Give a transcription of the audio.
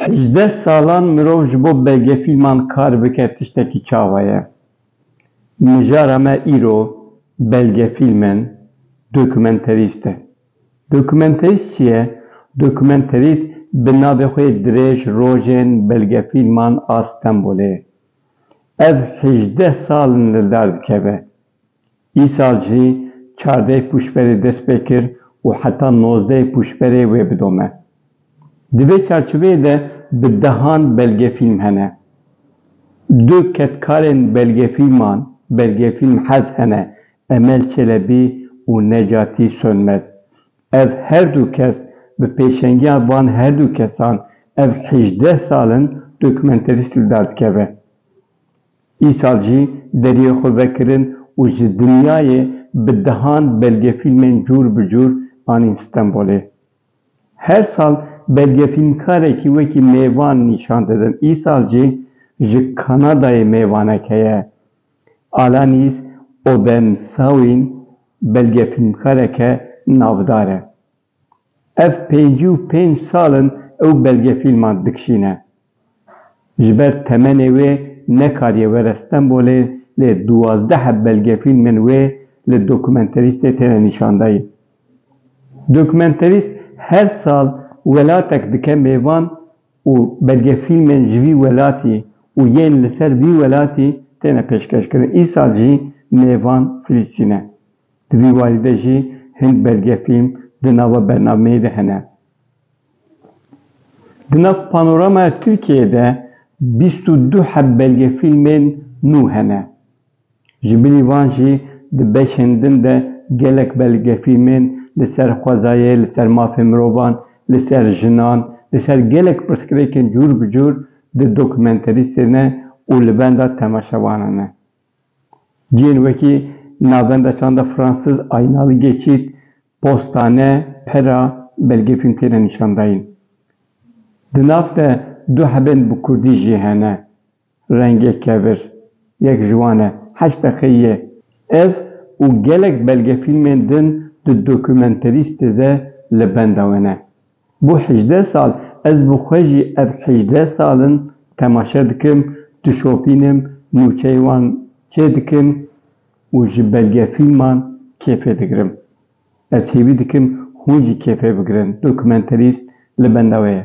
Hejdeh salan mirov ji bo belgefîlman kar bike tiştekî çawa ye. Mijara me îro belgefîlm in, dokumenterîst e. Dokumenterîst çi ye? Dokumenterîst bi navê xwe yê dirêj rojên belgefîlman a Stenbolê ye. Ev hejdeh sal in li dar dikeve. Îsal jî çardeh pûşberê dest pê kir û heta nozdeh pûşberê wê bidome. Di vê çarçoveyê de bi dehan belgefîlm hene. Du kedkarên belgefîlman Belgefîlm Hez hene, Emel Çelebî û Necatî Sönmez. Ev her du kes bi pêşengiya van her du kesan ev hejdeh sal in dokumenterîst li dar dikeve. Îsal jî deriyê xwe vekirin û ji dinyayê bi dehan belgefîlmên cûr bi cûr anîn Stenbolê. Her sal belgefîlmkarekî wekî mêvan nîşan didin. Îsal jî ji Kanadayê mêvanek heye. Alanis Obemsawin belgefîlmkareke navdar e. Ev pêncî û pênc sal in ew belgefîlman dikişîne. Ji ber temenê wê nekariye were Stenbolê lê duwazdeh belgefîlmên wê li dokumenterîstê têne nîşandayîn. Dokumenterîst her sal welatek dike mêvan û belgefîlmên ji vî welatî û yên li ser vî welatî têne pêşkêşkirin. Îsal jî mêvan Filistîn e. Di vî warî de jî hin belgefîlm di nava bernameyê de hene. Di nav panoramaya Tirkiyeyê de bîst û du heb belgefîlmên nû hene. Ji binî van jî di beşên din de gelek belgefîlmên li ser xwezayê, li ser mafên mirovan, li ser jinan, li ser gelek pirsgirêkên cûr bi cûr di dokumenterîstê ne û li benda temaşevanan e. Cihên wekî navenda çanda Fransiz Aynal Geçît, Postane, Pera, Belge Fîlm têne nîşandayîn. Di nav de du hebên bi kurdî jî hene, Rengê kevir, yek ji wan e, heşt deqeyî ye. Ev û gelek belgefîlmên din di Dokumenterîstê de li benda we ne. Bo hejdeh sal ez bi xwe jî ev hejdeh sal in temaşe dikim, dişopînim, nûçeyên wan çê dikim û ji belgefîlman kêfê digirim. Ez hêvî dikim hûn jî kêfê bigirin, dokumenterîst li benda wê ye.